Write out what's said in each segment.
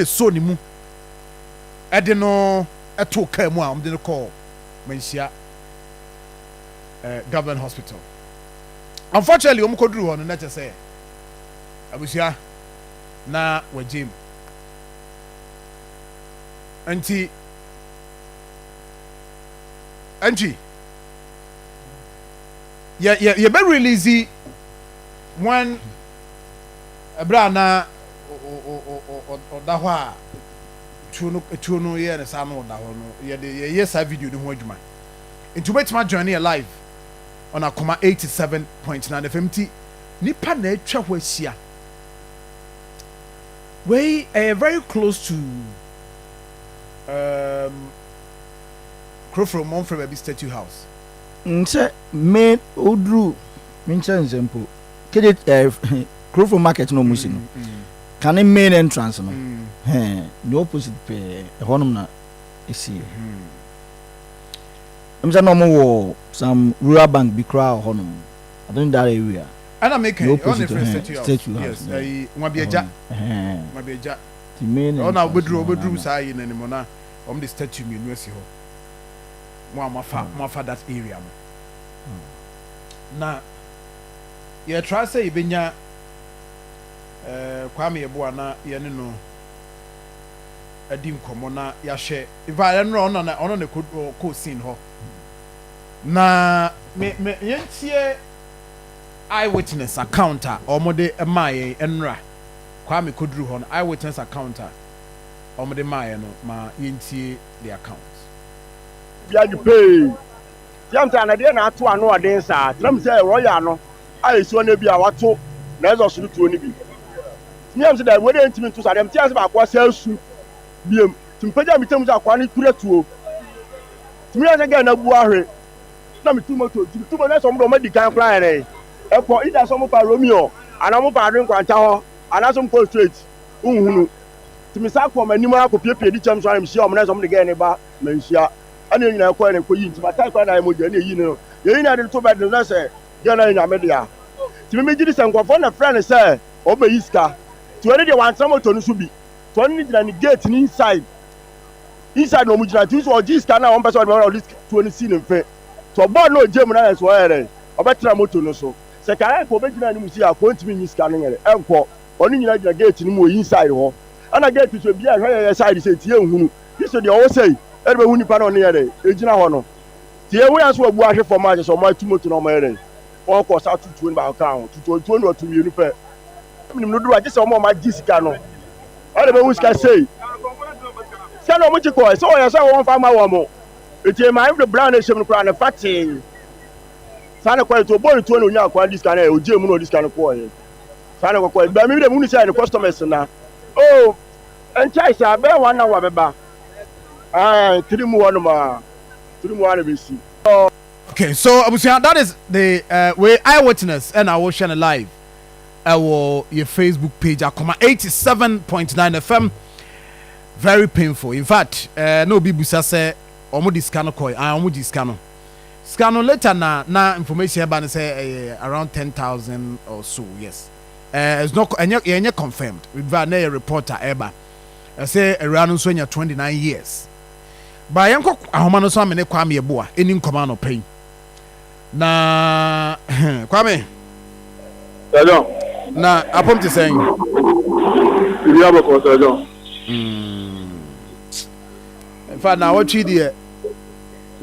de soo ne mu de no too kaa mu a wɔde no kɔɔ Manhyia Government Hospital. Unfortunately, wɔn kɔduru hɔ no na kyɛ sɛ abusua na wɔagye mu. Nti nti yɛ yɛ yɛbɛ release wɔn ɛberɛ a na ɔda hɔ a tuo no tuo no yɛ ne saa na ɔda hɔ no yɛde yɛyɛ saa video no ho adwuma nti wobɛtumi adwane yɛ live on akoma 87.9 fm nti nipa na atwa hɔ ahyia wei ɛyɛ very close to um, kuroforo mmɔmfrɛ baabi statue house nkyɛ me oduru me nkyɛ nkyɛ mpo Kede ɛɛ Kurofo market na wɔn si no, kane main entrance no, hɛn ne opposite pɛɛ, ɛhɔ nom na esie. Ɛmu sɛ na wɔn wɔ some rural bank bi koraa wɔ hɔ nom, I think that area. Ɛna mi kan yi, ɛhɔ na efrɛ statue house, statue house, yes, ɛyi nwabiagya, nwabiagya, ti main entrance, ɛhɔ na obeduru obeduru saa yi na ne mu na wɔn de statue mmienu asi hɔ, wɔn a wɔn afa wɔn afa that area no, na. yɛtra sɛ yɛbɛnya Kwame Yeboah na yɛne no adi nkɔmmɔ na yɛahwɛ ifa yɛn no ɔno na ɔno na kɔ scene hɔ na me me yɛntie eyewitness account a wɔde maa yɛn ɛnora Kwame kɔduru hɔ no eyewitness account a wɔde maa yɛn no ma yɛntie the account. Yɛn pay. James a na deɛ na ato ano a den saa, tenam sɛ royal no a ɛsuo no ebia wato na ɛsɔ soro tuo no bi. Tumi yam sɛ daabi wei deɛ ntumi nto saa, deɛ mete ase baako a saa su biam. Tumi pagya me tirim sɛ akoa no kura tuo. Tumi yam sɛ gɛɛ no abu ahwe. Na metu moto, nti metu moto na ɛsɛ ɔmo deɛ ɔmo adi kan koraa yɛn ɛkɔ, either sɛ ɔmo fa Romeo anaa ɔmo fa Adwene Nkwanta hɔ anaa sɛ ɔmo kɔ straight, wonhunu. Tumi san kɔɔ m'anim ara kɔ piepiee di kyɛm so ara na mehyia ɔmo na ɛsɛ ɔmo de gɛɛ no ba manhyia. ɛna yɛn nyinaa kɔɛ na ɛkɔ yi nti matae koraa na ayɛ mogya ɛna ɛyi no no yɛn nyinaa de no to bɛde no na sɛ deɛ na yɛ nyame dea nti me megye di sɛ nkurɔfoɔ na frɛ no sɛ ɔbɛyi sika nti ɔno deɛ wantena moto no so bi nti ɔno ne gyina ne gate no inside inside na ɔmo gyina nti nso ɔgye sika na ɔmpɛ sɛ ɔde bɛma na ɔde tuo no si ne mfe nti ɔbɔɔ no ɔgye mu na nso ɔyɛ dɛ ɔbɛtena moto no so sɛ kae kɔ ɔbɛgyina anim si akɔ ɔntumi nyi sika no nyere ɛnkɔ ɔno nyina gyina gate no mu wɔ inside hɔ ɛna gate so ebi a ɛhwɛ yɛyɛ side sɛ nti yɛnhunu Gye sɛ deɛ ɔwɔ say de bɛhu nipa na ɔne yɛ dɛn ɛgyina hɔ no. Sɛ yɛhu yɛn nso wɔ abu ahwe fam a kyerɛ sɛ ɔmo atu moto na ɔmo yɛ dɛn ɔmo kɔ saa tutuo no baako ka ho tutuo ntuo no ɔto mmienu pɛ. Ɔmo nim no dodo a gye sɛ ɔmo a ɔmo agye sika no ɛde bɛhu sika say sika na ɔmo gye kɔɛ sɛ ɔyɛ sɛ ɔwɔ nfa ma wɔn mo ɛti ɛma ɛmfiri bra na ɛhyɛm no koraa no fa tee saa na kɔɛ nti ɔbɔ ne tuo na ɔnya kwan de sika no ɛ ɔgye mu na ɔde sika no kɔɛ saa na kɔkɔɛ baa mi bi dɛ mo hu sɛ ɛne customers na oh. Ɛnkyɛe saa, ɛbɛyɛ wɔn na wɔbɛba. Aane, tiri mu hɔ nom ara, tiri mu ara na ɛbɛsi. Okay so abusua that is the uh, wei eye witness ɛna eh, wohwɛ no live ɛwɔ eh, yɛ Facebook page akoma 87.9 FM very painful in fact ɛɛ eh, na obi busa sɛ wɔn de sika no kɔɛ ah wɔn gye sika no sika no later na na information ɛba no sɛ ɛyɛ around ten thousand or so yes eh, it's not, ɛnyɛ, yɛnyɛ confirmed, biribi a na ɛyɛ report a ɛba, ɛsɛ awuraa no nso anya 29 years. Ba yɛnkɔ ahoma no so amene Kwame Yeboah ɛni nkɔmɔ anɔpa yi. Na, Kwame. Sɛdɔn. Na apom te sɛn? Biribi abɔkɔ sɛdɔn. Mm. In fact, na awɔtwe deɛ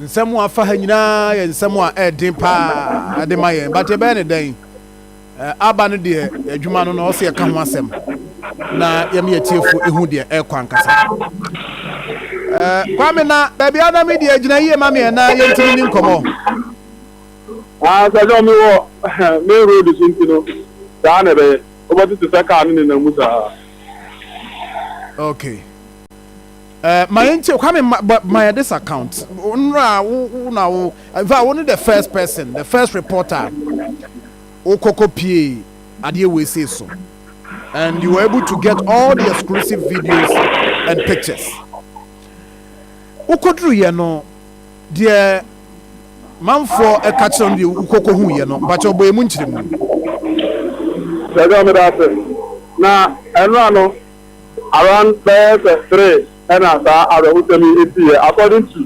nsɛm a afa ha nyinaa yɛ nsɛm a ɛden paa de ma yɛn, but ɛbɛyɛ ne dɛn? Aba no deɛ adwuma no na ɔsɛ yɛka ho asɛm na yɛma yɛtiefo ehu deɛ ɛrekɔ ankasa. Kwame na baabi a na me deɛ gyina yie ma meɛ na yɛntumi ni nkɔmɔ. Ah, sɛ sɛ ɔmo wɔ main road so nti no saa na ɛbɛyɛ. Wobɛte te sɛ kaa no nenam mu saa. Okay. Eh, ma yɛn tie Kwame ma, but ma yɛ this account. Ɔnra wo wo na wo. In fact, wo ne the first person, the first reporter. Wo koko pie adeɛ wei sei so. And you were able to get all the exclusive videos and pictures. Wo koduru yɛ no deɛ manfoɔ ɛka kyerɛ no deɛ wo koko hu yɛ no mpakyɛ ɔbɔ yɛ mu nkyerɛ mu. Sɛ ɛdɛ ɔmeda ase na ɛnra no. Around bɛyɛ sɛ three ɛna saa awerɛhosɛm yi siiɛ according to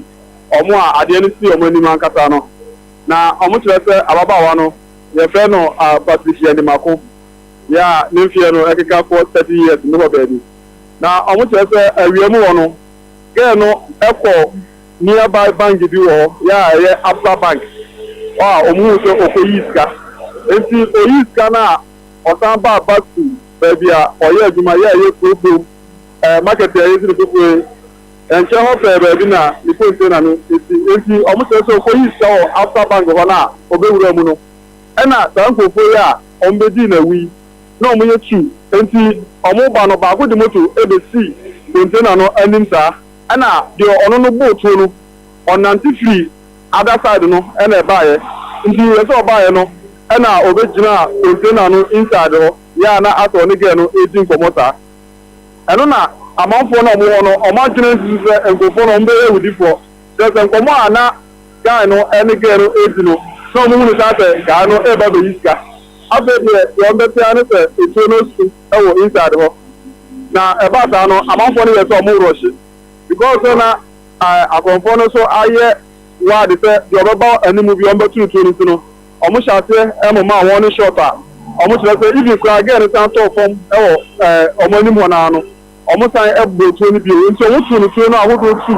wɔn a adeɛ no sii wɔn anim ankasa no. Na wɔn kyerɛ sɛ ababaawa no yɛfrɛ no Patricia Nimako yeah ne mfeɛ no ɛkeka kɔ thirty years mu hɔ baabi. Na wɔn kyerɛ sɛ awia mu hɔ no girl no kɔ nearby bank bi wɔ hɔ yeah ɛyɛ Absa bank hɔ a wɔn huu sɛ ɔkɔ yii sika nti ɔyii sika no a ɔsan baa Baku, baabi a ɔyɛɛ adwuma yɛ a ɛyɛ kurow kurom ɛɛ market a yesi no foforo yi. Ɛnkyɛ hɔ pɛɛ baabi na ne container no si. Enti wɔkyerɛ sɛ okoyii sika wɔ Absa Bank hɔ no a obewuraa mu no, ɛna saa nkurɔfo yi a wɔbedii no awu yi, na wɔyɛ tu. Enti wɔreba no, baako de moto besii container no anim saa, ɛna deɛ ɔno no bow tuo no, ɔnante firii. other side no na ɛbaeɛ nti yɛ sɛ ɔbaeɛ no na ɔbɛgyinaa container no inside hɔ yɛ a na asɛ ɔne girl no redi nkɔmmɔ saa ɛno na amanfoɔ no a wɔwɔ hɔ no wɔn adwene nsusu sɛ nkurɔfoɔ no wɔbɛyɛ awudifoɔ kyerɛ sɛ nkɔmmɔ a na guy no ne girl no redi no na wɔn hunu saa sɛ guy no reba bɛyi sika afei deɛ deɛ wɔn bɛte ara ne sɛ etuo no asu wɔ inside hɔ na ɛbaa saa no amanfoɔ no yɛ sɛ wɔn rɔhye because sɛ na ɛɛ akɔmfoɔ no nso ayɛ wide sɛ deɛ ɔbɛba anim bi ɔmbɛto no tuo no nti no ɔmo hyɛ aseɛ ɛmomaa wɔn ne shot a ɔmo kyerɛ sɛ even koraa girl no san tɔɔ fam ɛwɔ ɛɛ ɔmo anim hɔ naa no ɔmo san ɛbɔɔ tuo no bio nti ɔmo too no tuo no ahodoɔ tu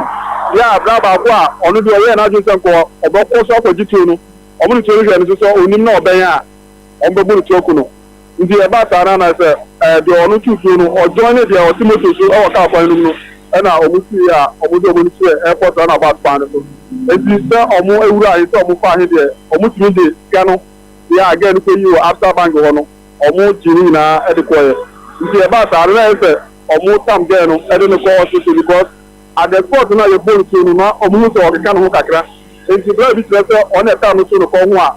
yɛ a bra baako a ɔno deɛ ɔyɛɛ n'adwene sɛ nka ɔbɛkɔ so akɔgye tuo no ɔmo de tuo no hwɛɛ no nso sɛ onim na ɔbɛn a ɔmo bɛbɔ no tuo aku no. Nti ɛba saa no ana sɛ deɛ ɔno tu tuo no ɔjoine deɛ ɔte motor so wɔ car kwan no mu no ɛna ɔmo sii a ɔmo de ɔmo ani kyerɛɛ airport roundabout kwan no so nti sɛ ɔmo awura he sɛ ɔmo faa he deɛ ɔmo tumi de sika no deɛ a girl no kɔyii wɔ Absa bank hɔ no ɔmo gyee ne nyinaa de kɔeɛ nti ɛba saa no na ɛyɛ sɛ ɔmo tam girl no de no kɔ hospital because at the spot no a yɛbɔɔ no tuo no na ɔmo hu sɛ ɔkeka ne ho kakra nti bra bi kyerɛ sɛ ɔno na ɛtaa no tuo no kɔ ho a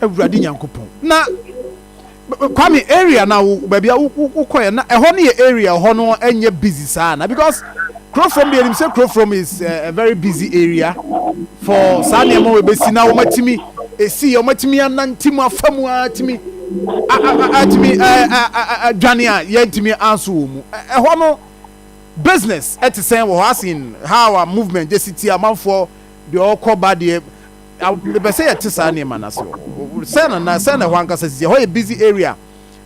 Awurade Nyankopɔn. Na Kwame area na wo baabi a wokɔɛ na ɛhɔ no yɛ area ɛhɔ no ɛnyɛ busy saa na because Kurofrom deɛ nim sɛ Kurofrom is eh, a very busy area for saa nneɛma wɔ bɛsi na wɔmatumi ɛsi yɛ wɔmatumi anante mu afa mu atumi atumi adwane a yɛntumi anso wɔ mu ɛhɔ no business ɛte sɛn wɔ hɔ asen how a movement gyesi ti amanfoɔ deɛ ɔkɔ ba deɛ Mepɛ sɛ yɛte saa nneɛma no ase wɔ hɔ. Sɛn na na, sɛn na ɛhɔ ankasa sisi? Ɛhɔ yɛ busy area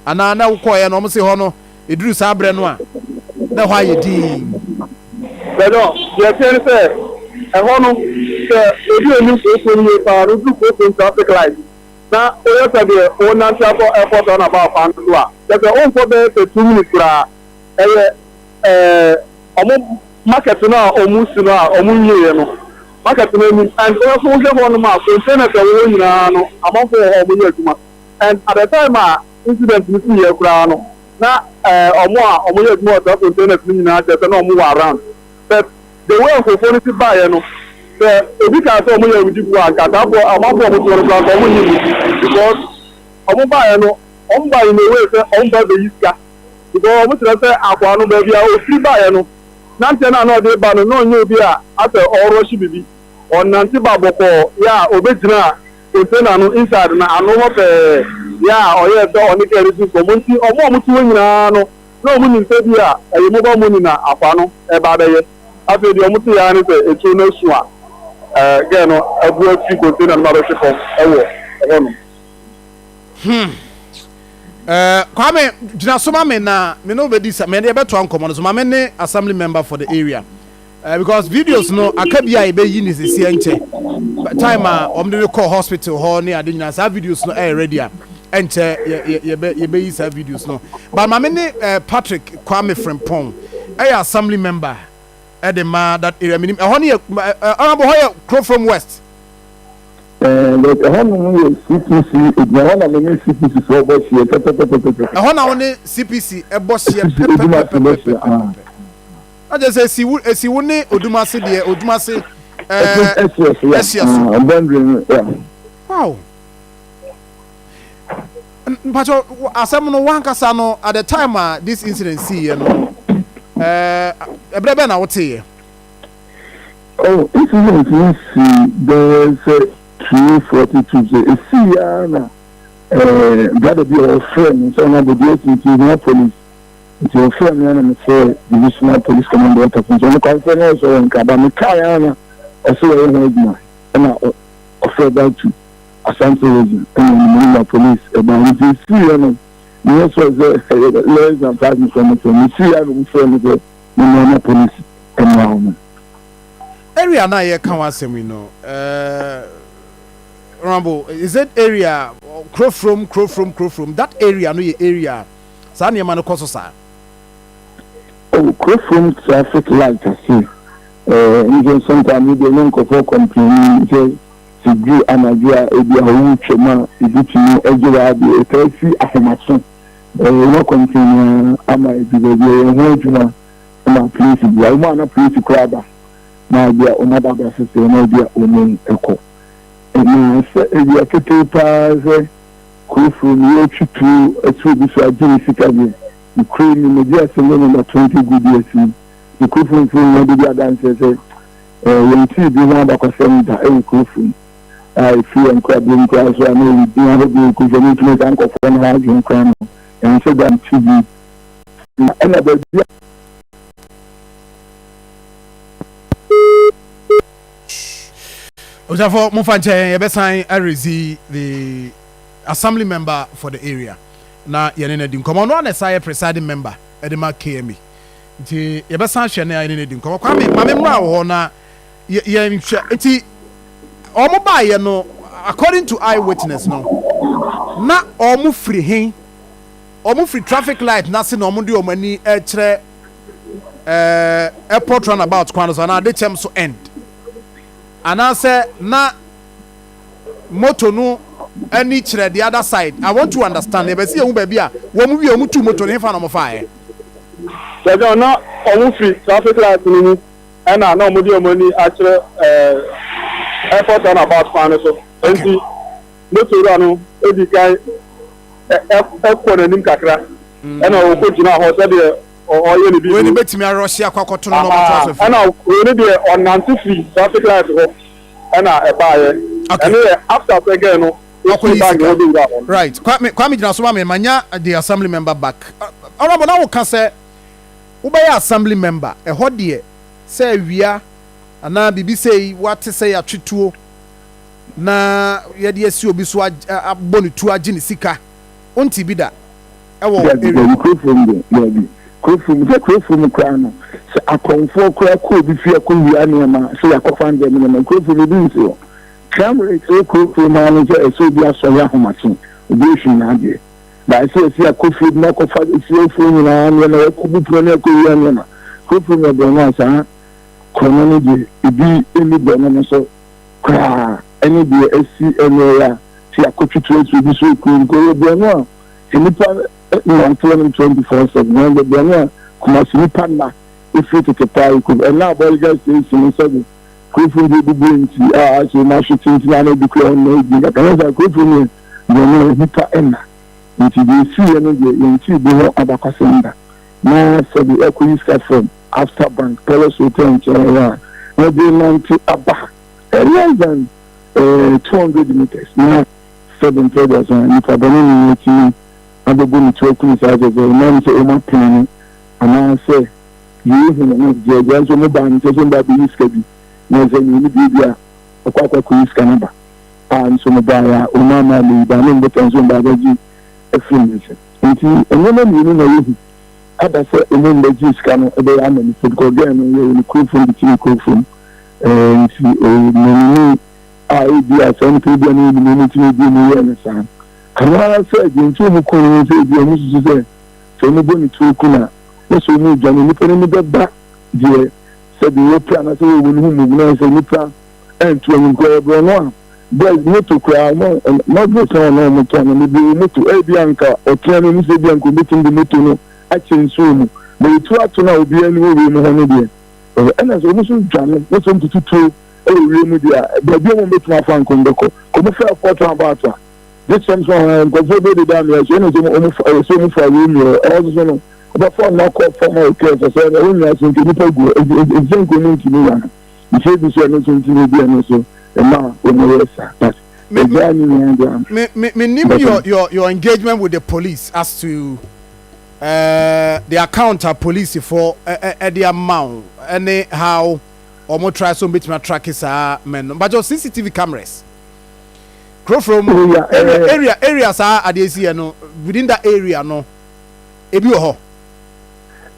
anaa? Na wokɔeɛ no, wɔse hɔ no, ɛduru saa berɛ no a, na ɛhɔ ayɛ dinn? Bɛdɔ, Deɛ ɛteɛ ne sɛ, ɛhɔ no, sɛ obi a ɔnim kuropɔn no yie pa ara no, woduru kuropɔn traffic light na woyɛ sɛ deɛ worenante akɔ airport runabout kwan no so a, kyerɛ sɛ wonkɔ bɛyɛ sɛ two minutes koraa. Ɛyɛ. ɛɛ wɔn market no a wɔresi no a wɔnwieɛ no, market no anim and wohwɛ hɔnom a containers a ɛwɔ hɔ nyinaa no amanfoɔ wɔ hɔ a wɔyɛ adwuma and at the time a incident no siiɛ koraa no na ɛɛ wɔn a wɔyɛ adwuma wɔ saa containers no nyinaa kyerɛ sɛ na wɔwɔ around but the way nkurɔfoɔ no si baeɛ no sɛ obi kaa sɛ wɔyɛ awudifoɔ a nka saafoɔ amanfoɔ a wɔtoɔ no koraa nka wɔnyi mu because wɔn baeɛ no wɔn baeɛ in a way sɛ wɔn ba bɛyi sika. because wɔn kyerɛ sɛ akoa no baabi a ɔfiri baeɛ no nanteɛ no a na ɔde ba no na ɔnyɛ obi a asɛ ɔrɔhye biribi ɔnante ba bɔkɔɔ yɛ a ɔbɛgyinaa container no inside no ano hɔ pɛɛ yɛ a ɔyɛɛ sɛ ɔne girl no di nkɔmmɔ nti wɔn a wɔte hɔ nyinaa no na wɔn nim sɛ bi a ɛyɛ mobile money na akoa no ɛba abɛyɛ afei deɛ wɔn te yɛ ne sɛ ɛtuo no asu a girl no abu afiri container no mu abɛhwe fam ɛwɔ ɛhɔ nom. hmm ɛɛ eh, kwame gyina so ma me na me ne wo bɛdi sa me ne yɛbɛtoa nkɔmmɔ no so ma me ne assembly member for the area uh, because videos no aka bi a yɛbɛyi ne sɛsiɛ nkyɛ time a wɔn de no kɔ hospital hɔ ne ade nyinaa saa videos no ɛyɛ eh, ready a ɛnkyɛ yɛbɛyi saa videos no but ma me ne eh, patrick kwame frimpong ɛyɛ assembly member ɛde ma that area menim ɛhɔ no yɛ ɔnabɔ hɔ yɛ kurofrom west But ɛhɔ nom yɛ CPC gyina hɔ na me ne CPC foɔ bɔ hyeɛ pɛpɛpɛpɛpɛpɛ. Ɛhɔ na wo ne CPC bɔ hyeɛ pɛpɛpɛpɛpɛpɛpɛpɛ. Na kyerɛ sɛ esi wo esi wo ne Odumase deɛ Odumase ɛɛ ɛhyeɛ so ya ɛhyeɛ so. Ah boundary no ya. Wow. Mpatsɔ asɛm no wankasa no at the time a this incident sii yɛ no ɛɛ ɛbrɛ bɛn na woteeɛ? Oh, incident yi sii bɛyɛ sɛ three forty Tuesday. Esii ara na eh, brother bi a ɔfrɛɛ me sɛ ɔno abɔdeɛ asi nti ohia police. Nti ɔfrɛɛ me ara na mefrɛɛ divisional police command workers nti ɔmo kwan frɛ me ɔsɛ ɔwɔ Nkraba. Mekae ara na ɔsɛ wɔyɛ ho adwuma ɛna ɔfrɛ back to Asante region ɛna ɔde me number police ɛbae. Nti esii ara na menyɛ sure sɛ ɛyɛ less than five minutes ɔmo frɛ me. Esii ara na ɔmo frɛɛ me sɛ. Me nua na polis mmra hɔ no. Area no a yɛka ho asɛm yi no eh Rambo is it area kuro from kuro from kuro from that area no yɛ area a saa nneɛma no kɔ so saa? Oh kuro from traffic light ase eh nso sometimes ebi ɛnyɛ nkorɔfoɔ complaini sɛ sɛ duru anadwo a ebi a wotwam a ebi tumi agye w'adeɛ ɛtaa si ahomaso. Yɛwɔ kɔmten no ara ama ɛdu baabi a yɛn ho adwuma ma polisi bia wɔn a na polisi koraa ba na bia wɔn aba abɛsɛ sɛ na bia wɔn kɔ na sɛ awia ketee paa sɛ kurofuro no yɛtwi tuo ɛto obi so agye ne sika deɛ ne kuro ni na bi asɛm yɛ nɔmba 20 gu bi asi ne kurofuro mfiri ho de bi adanseɛ sɛ yɛn tiri bi ho abakɔsɛm da ɛwɔ kurofuro mu a efi yɛn nkrabom koraa so a na ɛyɛ din ahodoɔ yi kɔsi ɛno nti na saa nkurɔfoɔ no adwene koraa no ɛho sɛ dan ti bi na ɛna baabi a Obusafoɔ mofa nkyɛn yɛbɛsan arezi the assembly member for the area na yɛne no adi nkɔmmɔ ɔno a na ɛsa yɛ presiding member ɛde ma KMA nti yɛbɛsan hwɛ ne a yɛne no adi nkɔmmɔ kwame ma me mmra wɔ hɔ na Yɛ yɛn nhwɛ. Nti wɔn baayɛ no according to eye witness no na wɔn firi he? Wɔn firi traffic light n'ase na wɔn de wɔn ani rekyerɛ eh, airport runabout kwan no so anaa Adekyɛm so end anaasɛ na moto no ani kyerɛ the other side. I want to understand. Yɛbɛ se yɛhu baabi a wɔn wie wɔn tuu moto no hefa na wɔn faeɛ. Kyerɛ sɛ na wɔn firi traffic light no mu. Ɛna na wɔde wɔn ani akyerɛ ɛɛ airport run about kwan no so. Enti motor wura no di kan ɛ ɛkɔ n'anim kakra. Mm. Ɛna ɔkɔ gyina hɔ sɛdeɛ ɔyɛ ne bi. Wei ni betumi arɔsi akɔ akɔto no na ɔmo to aso fi. Ɛna wei ni deɛ ɔnante fi traffic light hɔ ɛna ɛbaayɛ. Okay. Ɛne yɛ after sɛgɛn no. Ɔkɔ yi sika. Right. Kwame Kwame gyina so ma mi ma nya the assembly member back. Ɔrɔbɔ na wo ka sɛ. Wobɛyɛ assembly member, ɛhɔ deɛ sɛ awia anaa biribi sei woate sɛ yɛatwe tuo na yɛde asi obi so abɔ no tuo agye ne sika, wontee bi da wɔ wo Daabi, area daabi, hɔ? kurofuom deɛ daabi, kurofuom sɛ kurofuom koraa no sɛ akɔmfoɔ koraa kɔ obi fie akɔwia nneɛma sɛ yɛakɔfa ndeɛ me nneɛma, kurofuom obi nte hɔ. Crime rate wɔ kurofuom ara ne sɛ ɛsɛ obi asɔre ahomakye, obi ahwim n'adeɛ. Daa sɛ yɛsi akɔ fie de no akɔfa asuafoɔ nyinaa nneɛma, yɛkɔ bu pono ne akɔ wia nneɛma. Hopefully nyɛ borɔno a saa korɔno no deɛ ebi nni borɔno no so koraa ɛne deɛ asi ɛnɛ yi a sɛ yɛakɔ twitwi asi obi so ɛkura mu kɔ yɛ borɔno a nnipa nnante hɔ nom 24/7 na ɛyɛ borɔno a Kumasi nipa nna ɛfiri tete paa ɛkɔ mu ɛnna abɔregya station sɛdeɛ Kurofon deɛ egu bere nti a so na so tenten ara na edi kura wɔn na edi nkaka na saa kurofon no yɛ deɛ na nnipa nna nti deɛ esiiɛ no deɛ yɛntee bi ho abakɔsɛm da na sɛde ɛkɔyi sika from Absa Bank Palace Hotel nkyɛn hɔ a na de renante aba eh, less than eh, 200 meters na sɛde mpɛ aduasa nnipa bɔne ne atumi abɛbɔ ne tu akunu saa sɛ sɛ ɛnam sɛ wɔn apene no anaasɛ Yeyi hom ho dze agua nso mo baa ne nkyɛn sɛ ɔmba beyi sika bi, na ɔsɛ nye no biribi a, ɔkɔ akɔ ekoyi sika no ba. Aa nso mebae a, ɔmaa maa meyi baa me mbotan nso ɔmba abɛgye efir me nsa. Ntsi ndzɛmba mienu na yehu aba sɛ ɔmo mba gyee sika no bɛyɛ ama me fɛdi kɔ gɛɛ no yɛyɛ ne kurofo ndze tsim kurofo mu. Eeh ntsi eeh menunui a ebi a saa nyimpa yi bia n'enyim na ɔno ntsi na ebi a ɔmo yɛɛ no saa. Ano ara sɛ dza ntsi ɔmo kun no nye sɛ ebi a ɔmo susu sɛ Sɛ omu bɔ ne tuo kun a, na sɛ omu dwane a, nnipa no ani bɛba deɛ sɛdeɛ wɔpira anaasɛ wɔwɔ no ho mmom, na sɛ nnipa antu anim koraa a, ɛbrɛ no a, boys moto koraa, wɔn, na ɔbrɛ sɛ wɔn na wɔtɔ anaa bebree wɔ moto, ebia anka ɔtea no, ɛmu sɛ ebia anka wɔbɛtumi de moto no akyɛ nsuo mu, na wɔtu ato no a obiara ani wɔ wiem hɔ no deɛ, ɛhɔ, ɛna sɛ wɔn nso dwane, na sɛ wɔtutu tuo wɔ wiem deɛ a, baabi a wɔbɛtumi afa anka wɔbɛkɔ, kɔmofɛ afoɔ to abɔ ato a. This comes from eh, nkurɔfoɔ bi deda mmea ahyia na sɛ wɔn fa wɔsi wɔn fa wɔn mmea ɛwɔ soso no wɔbɛfa wɔn akɔ fam a wɔkɛ sɛ sɛ ɛwɔ mmea ase nka nipa gu ɛsɛ nka wɔn ntumi ya no nsuo bi so ɛno nso ntumi bi ɛno nso ɛma wɔn yɛ sa but ɛgya ne nyinaa gya me me me nim your your your engagement with the police as to uh, the account a police for ɛde uh, ama wo ɛne how wɔn try so wɔn betumi atraki saa mɛn no but your cctv cameras. Kuro frɛ mu area area area area saa adeɛ si yɛ no within that area no ebi wɔ hɔ.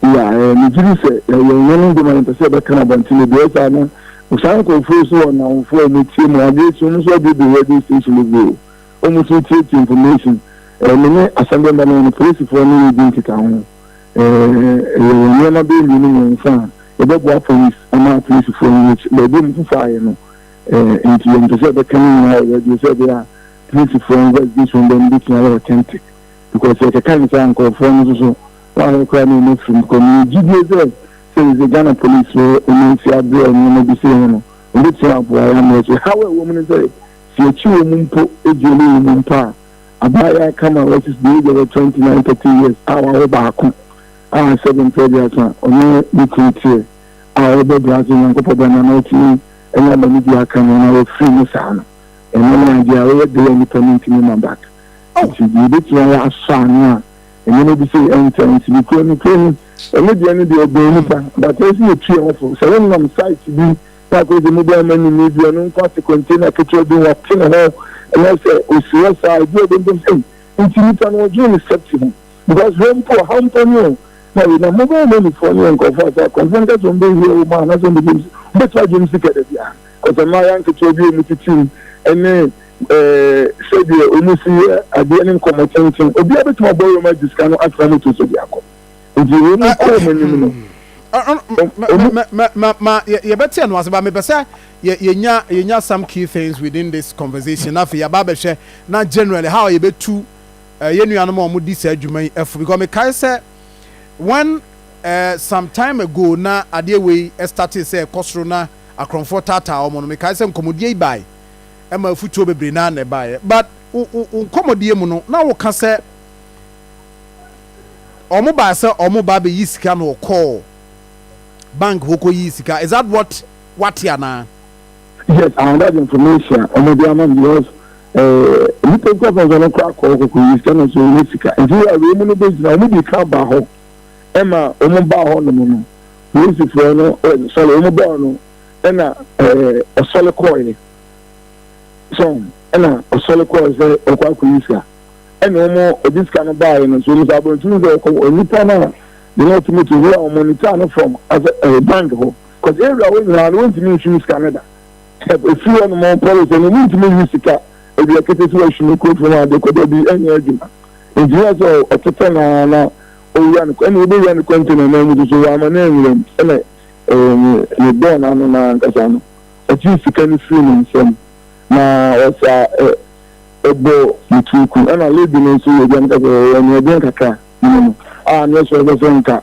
Ya ɛɛ ne gyiri sɛ ɛyɛ nyɛ ne ndwuma yɛn pɛ sɛ ɛbɛka na bɔnten ebi ɛyɛ saa na saa nkorɔfoɔ yi so wɔ nnamfoɔ a wɔn tie mu adeɛ si wɔn nso abuebue radio station bebree o wɔn nso tie tie information ɛɛ me ne asɛmdɛ mba no wɔn polisifoɔ ne yɛ di nkita ho ɛɛ ɛyɛ wɔn nneɛma bɛyɛ mmienu mmiɛnsa a ɛbɛboa police ama polisifoɔ yi baabi mu fufa ayɛ no. Enti yɛmpɛ sɛ yɛbɛka ne nyinaa wɔ radio sɛ ɛbɛyɛ a Christfoɔ investigation bɛ no bɛtumi ayɛ authentic because sɛ yɛkɛka no saa a nkurɔfoɔ no nso so wɔayɛ koraa na wɔn afirim because mewɔ gyidie sɛ sɛ yɛsɛ Ghana policefoɔ wɔn nsi aberɛ a nneɛma bi sei ho no wɔbɛtumi aboa yɛn ama yɛsɛ haw a ɛwɔ mu no sɛ sɛ yɛkyi wɔ mu mpo ɛduane wɔ mu mpo a abaayaa kama wɔsis deɛ ɛgya wɔ 29 30 years a wɔawo baako a sɛbe mpɛ aduasa ɔne ne kuru teɛ a wɔbɛbrɛ ase nyankopɔ bɛna na ɔtumi Ɛna bɔne biara ka no na wɔfiri mu saa no, ɛno ne adeɛ a ɔyɛ dɛ a nnipa no ntumi mma back. Nti deɛ ɛbɛtumi ayɛ asɔ ano a, nneɛma bi sei ɛntɛ nti nokorɛ no kuro no, ɛno deɛ no deɛ ɛbɛn nnipa but ɛsɛ sɛ yɛtu yɛn ho fo. Sɛ wonam site bi na akɔyɛ sɛ mobile money ni bi, ɔno nkɔ ase container ketewa bi ho ɔte ne ho anaasɛ ɔsi hɔ saa, ɛbi a ɔbɛhu sɛ ei nti nnipa no ɔdwene ne safety ho because wɔ mpo ɔhaw mpo ni o, Sorry, na mobile money foɔ no yɛ nkorɔfoɔ a sɛ akwanfoɔ no ka sɛ wɔn bɛ hire wo ma anaasɛ wɔn bɛ gyem si, wɔn bɛtumi agyem si kɛdɛ bia? Cause mmayewa nketewa bi a wɔn titim ɛne ɛɛ sɛdeɛ wɔn si yɛ adeɛ ne nkɔmɔ tenten, obiara bɛtumi abɔ wɔn agye sika no atena motor so de akɔ, nti wɔn kɔ wɔn anim no. Ma yɛbɛte ɛno ase ba mepɛ sɛ yɛnya yɛnya some key things within this conversation na afei yɛaba abɛhwɛ na generally how yɛbɛtu Yɛn nuanom a wɔdi saa dwuma yi fo because mekae sɛ when some time ago na adeɛ wei startee sɛ ɛkɔ soro na akorɔmfoɔ taataa wɔn no mekae sɛ nkɔmmɔdie yi bae ɛma afutuo bebree naa na ɛbaeɛ but wo nkɔmmɔdie mu no na woka sɛ wɔn baa sɛ wɔn ba abɛyi sika na wɔkɔɔ bank hɔ kɔyii sika is that what wate anaa? Yes, I have that information. Ọmọ bi ama mi because eh, nipa nkura fún ọsàn ọkọ akọ ọkọkọ yìí sika náà sọ ọmọ sika. Nti wíwá wíwá mu no bẹ gyina ọmọ bi kan ba hɔ ɛma ọmọ ba hɔ nom no polisifoɔ no sɔre ọmọ bɔɔl no ɛna ɔsɔre kɔɔ yɛ sɔn ɛna ɔsɔre kɔɔ sɛ ɔkɔ akɔ yi sika ɛna ọmọ ɔdi sika no baa yɛ no so ọmọ sɛ abɔntu sɛ ɔkɔ nipa náà yẹn ɔtumi tu wíwá ọmọ níta no fam asɛ ɛyɛ bank hɔ. Kɔgye awia hɔ nyinaa na wontumi nhwe wo sika no da. Sɛ efi hɔnom mpo resɛ no, wontumi nhwe sika awia kete sɛ wɔahwe me kuro fam ade kɔ. Dabi, ɛnyɛ adwuma. Enti na ɛsɛ sɛ ɔtetɛ no ara na owura no, ɛnna obewura ne kɔntena no mu nso. Wamma no anwura mu. Ɛnna mebɔɔ n'ano no ankasa no, ogyee sika no firii me nsam, na ɔsaa bɔ ne tiri ku. Ɛnna lady no nso yɛ dɛn ka sɛ, Ɛyɛ anuɔden kakra, Mene no. Ah, na ɛsɛ sɛ ɔbɛsɛ nka.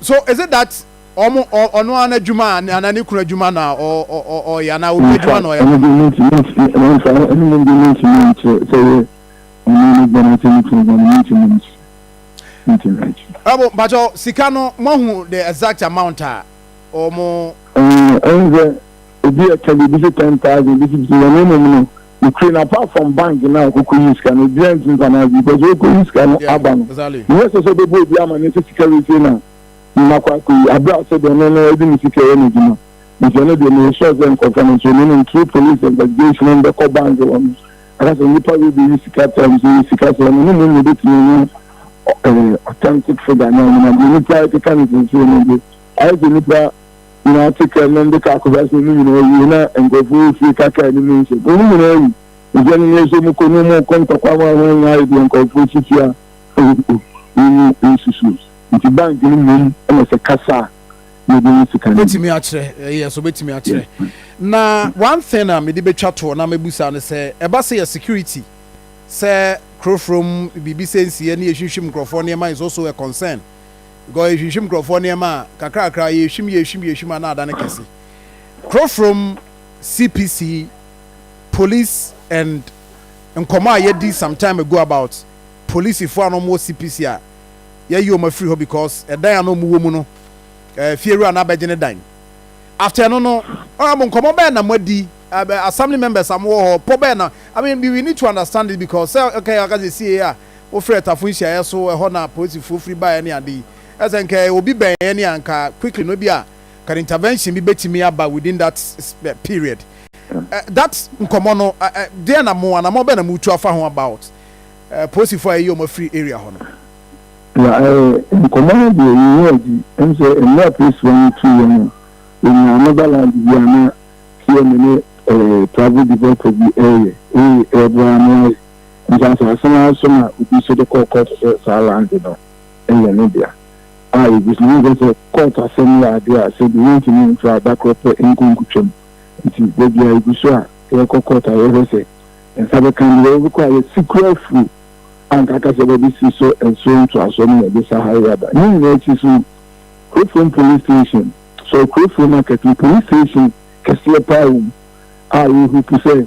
so is it that ɔmo ɔno ara n'adwuma anaa ne kunu adwuma na ɔyɛ anaa obi adwuma na ɔyɛ. ɛno deɛ mentumi ɛnsa ɛno mu deɛ mentumi nkyerɛ sɛ yɛ ɔno ne bɛn ase ne kunu bɛn mentumi nkyerɛ mentumi nkyerɛ. ɛbo mpakyɛw sika no moahu the exact amount a ɔmo. ɛn ɛn sɛ ebi ɛka bi ebi si ten thousand ebi si bi wɔn mmom no. Nokorɛ no apart from bank no a ɔkɔkɔyii sika no obiara ntumi mfa no adwene because ɔkɔyi sika no aba no nyɛ sɛ sɛ ɔbɛbɔ obi amaneɛ sɛ sika wei sei na makɔ akɔyi aberɛ a sɛdeɛ ɔno no ɔde ne sika yɛ n'adwuma nti ɛno deɛ meyɛ sure sɛ nkorɔfoɔ no nso menim through police investigation wɔn bɛkɔ bank hɔ no aka sɛ nnipa wei bɛyi sika times yi sika sɛ ɔno ne mu nyɛ bɛtumi anya eh, authentic figure no anyina deɛ nnipa ɛkeka ne sensei no de ayɛ sɛ nnipa Gyina akyekɛ no de ka akɔbasem no nyina wie na nkurɔfo wɔ fie ka kaa no mu nsem. Wo no nyina wi nsem no nyɛ sɛ mu kɔ no mu kɔ ntɔkwa ma ho nyɛ aye deɛ nkurɔfo si tua wo mu nsusu nti bank no mmom na sɛ kasa a na ɔde wo sika no bi. Obetumi akyerɛ, yes obetumi akyerɛ. Na one thing a mede betwa toɔ na mɛbusa ne sɛ ɛba sɛ yɛ security sɛ krofrom biribi sɛ nsiɛ ne yɛhwimhwim nkurɔfoɔ nneɛma is also a concern. Gɔɔ ehwimhwim nkorɔfoɔ nneɛma a, kakrakra, yehwim yehwim yehwim a na adane kɛse. Krofrom CPC, police and nkɔmɔ a yɛdi some time ago about polisifoɔ a na wɔwɔ CPC a yɛayi wɔn afiri hɔ because ɛdan a na wɔwɔ mu no eh, fiewura no abɛgye ne dan. After ɛno no, honourable nkɔmɔ bɛn na moadi, eh, assembly members a mowɔ hɔ, pɔ bɛn na, I mean we need to understand it because sɛ okay, aka sɛ sie a, wofrɛɛ tafo nhyiaeɛ so ɛhɔ na polisifoɔ firi baeɛ ne ade yi ɛsɛ nka obi bɛn yɛn a nka quickly no ebi a can intervention bi bɛtumi aba within that period that nkɔmɔ no deɛ na mo anamɔ bɛn na mo tu afa ho about polisifoɔ a ɛyɛ wɔn afiri area hɔ no. Ya ɛɛ nkɔmɔ no deɛ yɛyɛ adi ɛm sɛ mmerɛ a polisifoɔ no tu yɛn no yɛnyaa mobile land bi a na TMA ne ɛɛ travel developer bi ɛyɛ ɛyɛ ɛboa ano ayɛ Nsasease no ara so na obi nso de kɔɔ kɔɔto sɛ saa lande no yɛ ne dea. A Yegu so. Wohu sɛ kɔɔto asɛm yɛ ade a sɛ bi wontumi mfa da koro pɛ nkɔ nkotwam. Enti da biara yegu so a yɛkɔ kɔɔto a yɛhwɛ sɛ nsa bɛka nea yɛbɛkɔ a yɛasi kura afuru a anka aka sɛ yɛbɛbɛsi so nso ntoasoɔ ne yɛde sa ha yi aba. Ne nyinaa akyi so no, Kurofurom Police Station, sorry, Kurofurom Market no, Police Station kɛseɛ paa wɔ mu a yɛrehope sɛ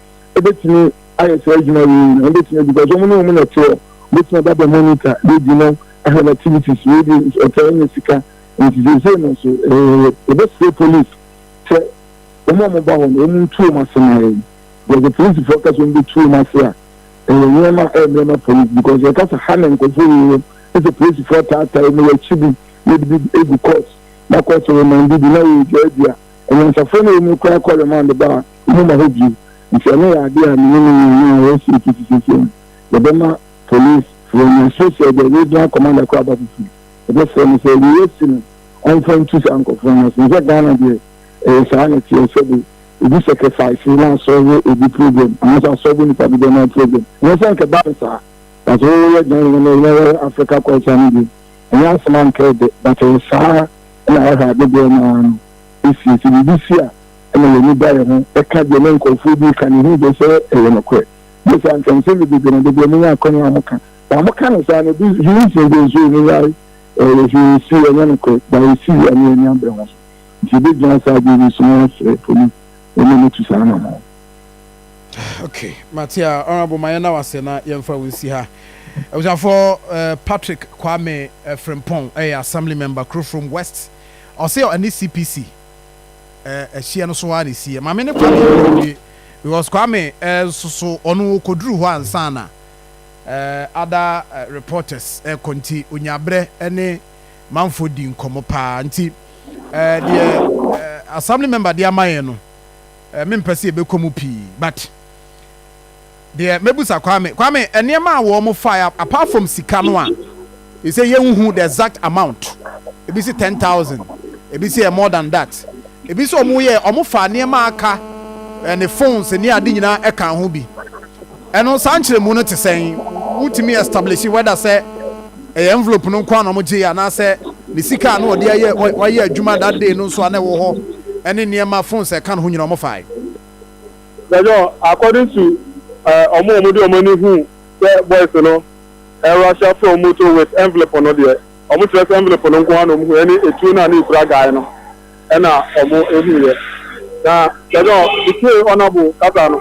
ebetumi ayɛ saa adwuma wei nyinaa ebetumi because wɔn ne wɔn na ɛteɛ obetumi aba bɛ monitor bedi no ahwɛ activities wei di ɔtaa nyɛ sika nti sese no so ɛɛ ebɛsrɛ police sɛ wɔn a wɔn ba hɔ no wɔn ntu wɔn ase na yɛn because police fo kasa wɔn bɛtu wɔn ase a ɛyɛ nneɛma ɛyɛ nneɛma police because yɛ kasa ha na nkɔfo yi wɔ ɛsɛ police fo ataataa wɔn yɛ akyi bi yɛ de bi egu court na court remand bi na yɛ dwa dua ɛnyansafo na wɔn kura kɔ remand ba a. Momma hɔ bio, nti ɛno yɛ adeɛ a me ne me nua no a ɔwɔ Sweden tete seesei no, yɛbɛma Police foɔ nya, seesei deɛ Regional Commander koraa aba foforo, yɛbɛsrɛ no sɛ wei asi no ɔmfa ntu saa nkorɔfoɔ no ase, nhwɛ Ghana deɛ ɛyɛ saa na ɛteɛ, sɛbe obi sacrifice na asɔlve obi problem, anaasɛ asɔlve nipa dodoɔ no ara problem, ɛnyɛ sɛ anka ɛba no saa, but wo wo yɛ Ghana no na woyɛ Africa culture no deɛ ɛnyɛ asɛm anka ɛdɛ, but ɛyɛ saa na ɛhɔ a dodoɔ no ara no ɛsie, sɛ biribi si a. na yɛn ani da yɛn ho ka deɛ na nkorɔfoɔ bi reka, na yɛhunu deɛ sɛ ɛyɛ nokorɛ. Bio saa nso, nsɛm bebrebe na dabi a wɔnya akwannya a wɔka, na wɔka no saa no, ebi nso yɛnhu sɛ deɛ nso ɛmu yare, ɛyɛ hwee nsi, ɛnyɛ nokorɛ, but ɛsi wie a na yɛn ani abere ho so. Nti yɛbɛgyina saa adwene yi so na yɛasrɛ po no ma no tu saa anammɔn. Ok, mate a Honourable, ma yɛnna wo ase na yɛmfa wo nsi ha. Abusuafoɔ, Patrick Kwame Frimpong yɛ Assembly Member Krofrom West, ɔse ɔne CPC. ɛɛ ɛhyeɛ no so ara na ɛsiiɛ maame ne kwame ɛwie because kwame ɛɛ nso so ɔno ɔkɔduru hɔ ansa na ɛɛ ada reporters ɛkɔ nti onyabrɛ ɛne manfoɔ di nkɔmɔ paa nti ɛɛ deɛ ɛɛ assembly member de ama yɛn no ɛɛ mempɛ sɛ yɛbɛkɔ mu pii but Deɛ mɛbusa Kwame, Kwame nneɛma a wɔn faeɛ apart from sika no a yɛsɛ yɛnhu the exact amount, ebi se ten thousand, ebi se ɛyɛ more than that, ebi se wɔn yɛ wɔn faa nneɛma a aka, ne phones ne ade nyinaa ɛka ho bi, ɛno saa nkyerɛmu no te sɛn? Wotumi establish whether sɛ ɛyɛ envelope no nko ara na wɔn gyeeɛ anaasɛ ne sika a na wɔde ayɛ wɔayɛ adwuma that day no nso a na ɛwɔ hɔ ɛne nneɛma phones a ɛka ne ho nyinaa wɔn faeɛ? Jajɔ according to eh ɔmo a ɔmo de ɔmo ani hu sɛ boys no ɛ rusher firi ɔmo motor with envelope no deɛ ɔmo kyerɛ sɛ envelope no nko ara na ɔmo hu ɛne etuo no a na ekura guy no ɛna ɔmo ehu yɛ na jajɔ me tie honourable kasa no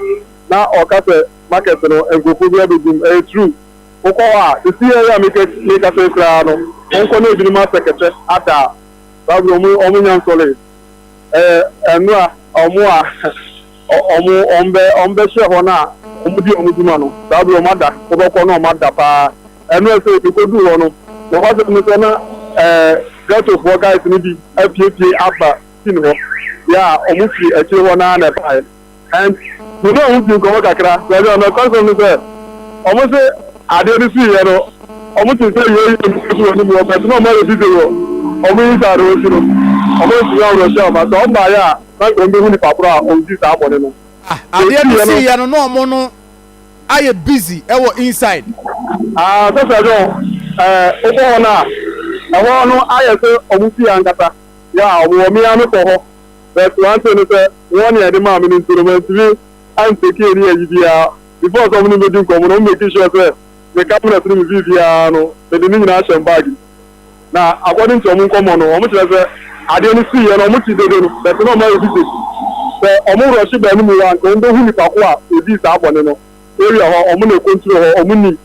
na ɔka sɛ market no nkurɔfoɔ biara bɛ gum ɛyɛ true wokɔ hɔ a sisi yɛ a meka meka sɛ koraa no wɔnkɔ na ebinom asɛ kɛtɛ ada saa berɛ ɔmo ɔmo nya nsɔlee. Ɛɛ, mma wɔn a wɔn bɛ, wɔn bɛhyɛ wɔn a wɔdi wɔn dwuma no, saa bere wɔn ada, wɔbɛkɔ na wɔn ada paa. Ɛno a sɛ ebekodu hɔ no, nokwasɛm ne sɛ na ɛɛ ghettofoɔ guys no bi apiepie aba scene hɔ. Yaa, wɔfi akyire hɔ no ara na ɛbaeɛ. And me ne ɔmo dii nkɔmɔ kakra, baabi a nɔkware sɛm ne sɛ, ɔmo se adeɛ no sii yɛ no, ɔmo tee sɛ yei yɛ nsuo so wɔ anim hɔ, but na ɔmo ayɛ busy wɔ ɔmo inside hɔ nti no, ɔmo antumi anworɔ hyɛɛ ɔmo ase. Ɔmo baayɛ a, na nka ɔmo behu nipa korɔ a ɔdii saa bɔne no. Ah, Deɛ adeɛ no ɔsiiɛ no. sii yɛ no, na ɔmo no ayɛ busy wɔ inside. Ah, Sɛsɛ John, eh, wokɔ hɔ no a, ɛhɔ no ayɛ sɛ ɔmo fie ankasa. Yeah, ɔmo wɔ me ara me kɔ hɔ. but one thing ne sɛ warning a yɛde maa me no nti no mantumi an take any ayi biara, before sɛ ɔmo ne me bɛdi nkɔmmɔ no ɔmo make sure sɛ me cabinet no mu biribiara no mede ne nyinaa hyɛ me bag mu na according to ɔmo nkɔmmɔ no ɔmo kyerɛ sɛ adeɛ no siiɛ no ɔmo te dede no but na ɔmo ayɛ busy sɛ ɔmo rush baa no mu hɔ a nka ɔmo bɛhu nipa ko a ɔdii saa bɔne no area hɔ ɔmo na ɛcontrol hɔ ɔmo nim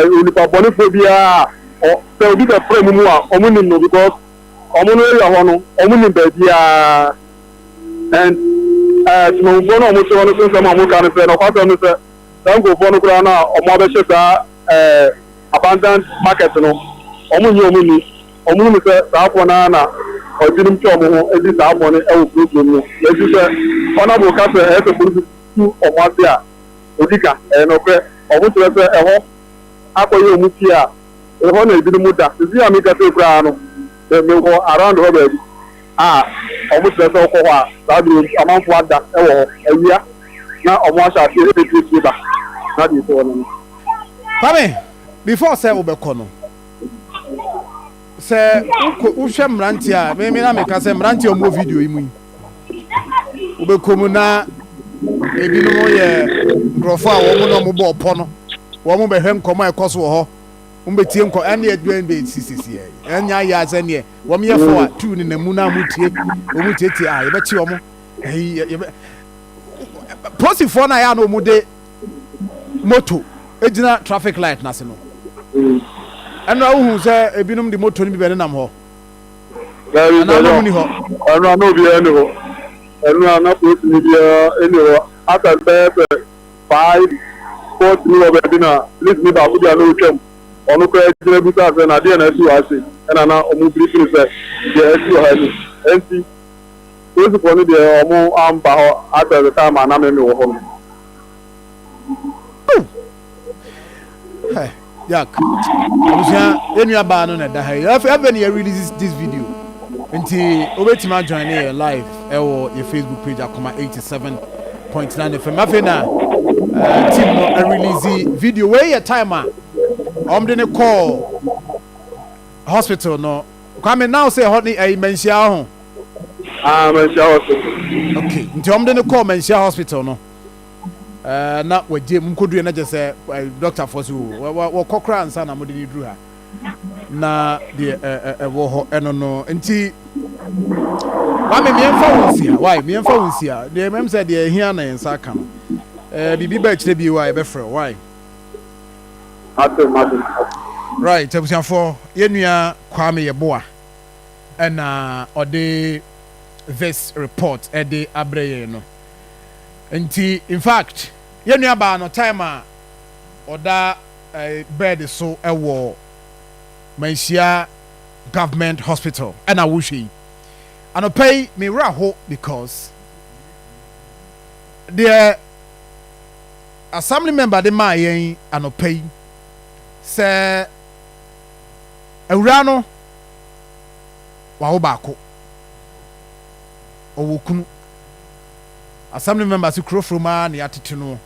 onipa bɔnefoɔ biara a sɛ obi bɛfra mu mu a ɔmo nim no because Ɔmo no yɛ hɔ no, ɔmo nim baabiaa and ɛɛ Temammufoɔ no a ɔmo te hɔ no so nsɛm a ɔmo ka ne sɛ, nɔkwasɛm ne sɛ, saa nkurofoɔ no koraa no a ɔmo abɛhyɛ saa ɛɛ abandoned market no, ɔmo nnye ɔmo nni. Ɔmo hunu sɛ saafoɔ no ara na ɔbinom twa ɔmo ho di saa bɔne wɔ kuro kurom no. Nanso sɛ Honourable ka sɛ ɛyɛ sɛ polisi tu ɔmo ase a, ɔdi ka. Ɛyɛ nɔkorɛ. Ɔmo kyerɛ sɛ ɛhɔ akɔyɛ ɔmo fie a. Ɛhɔ na ebinom da. Seesei a mekasa yi koraa no, mewɔ around hɔ baabi a wɔkyerɛ sɛ wokɔ hɔ a, saa bere yi amanfo ada wɔ hɔ. Awia na wɔahyɛ ase apue ba na deɛ ɛsi hɔ no no. Kwame, before sɛ wobɛkɔ no, sɛ wokɔ, wohwɛ mmeranteɛ a, me na meka sɛ mmeranteɛ a wɔwɔ video yi mu yi, wobɛkɔ mu na ebinom yɛ nkurɔfoɔ a wɔn na wɔn bɔ ɔpɔ no wɔn bɛhwɛ nkɔmɔ a ɛkɔ so wɔ hɔ wɔn bɛtie nkɔ ɛne ɛdwɛn bɛ si sisi ɛ ɛnyɛ ayɛ asɛ neɛ wɔn yɛ fo a tuu ne namu na wɔn tie wɔn tietie a yɛbɛkye wɔn ɛyi yɛbɛ posifoɔ no a yɛ a na wɔn de moto gyina traffic light n'ase no ɛno ahohu sɛ ebinom de moto no bi bɛ nenam hɔ. Daabi, Ɛnna na wɔn nni hɔ. ɛno a na obiara nni hɔ. Ɛno a na polisini biara nni hɔ. After bɛyɛ sɛ five, four three wɔ baabi na polisini baako bi a na otwam, ɔno koraa gyina bisaa sɛ, Na adeɛ na asi wɔ ha sei? Ɛnna na wɔbirifiri no sɛ, Deɛ asi wɔ ha ni. Enti polisifoɔ no deɛ wɔamma hɔ after the time a na me mewɔ hɔ no. Hey, Jack. Abusua, yɛn nua baa no na ɛda ha yi. Afei afei na yɛ release this video. Nti wobɛtumi ajoin ne yɛ live ɛwɔ yɛ Facebook page akoma 87.9 FM. Afei na uh, team no release video. Wei yɛ time a wɔde ne kɔɔ hospital no. Kwame now sɛ ɛhɔ ne ɛyi manhyia ho. Ah, manhyia hospital. Okay, nti wɔde ne kɔɔ manhyia hospital no. na wagye mu kɔdurɛ na kyɛ sɛ dɔktafoɔ so wɔkɔ koraa nsa na mode ne duru ha na deɛ ɛwɔ hɔ ɛno no nti wame mmiɛmfa wo nsi ha wae mmiɛmfa wo nsi ha deɛ mmɛm sɛ deɛ ɛhia na yɛn nsa aka no biribi bɛ akyerɛ bi wa yɛbɛfrɛ wo wae right abusuafoɔ yɛnua kwame yɛboa ɛna ɔde this report ɛde abrɛ yɛn no Nti in fact yɛn nua baa no time a ɔda eh, bed so wɔ Manhyia government hospital ɛna wohwɛ yi anɔpa yi me wura ho because deɛ assembly member de maa yɛn anɔpa yi sɛ awura no wawo baako ɔwɔ kunu. Assembly members kuro from ara na yɛatete no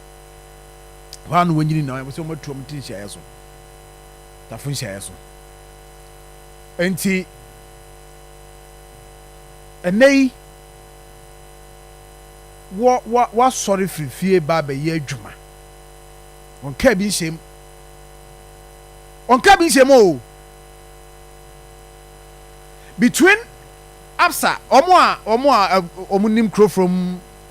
hɔ ara na wɔanyini na wɔn sɛ wɔatu wɔn ti nhyiaeɛ so, tafo nhyiaeɛ so. Enti ɛnɛ yi wɔ wɔ wɔasɔre firi fie ba abɛyɛ adwuma. Wɔnkaa bi nhyɛm. Wɔnkaa bi nhyɛm o. between Absa wɔn a wɔn a wɔn nim kuro from.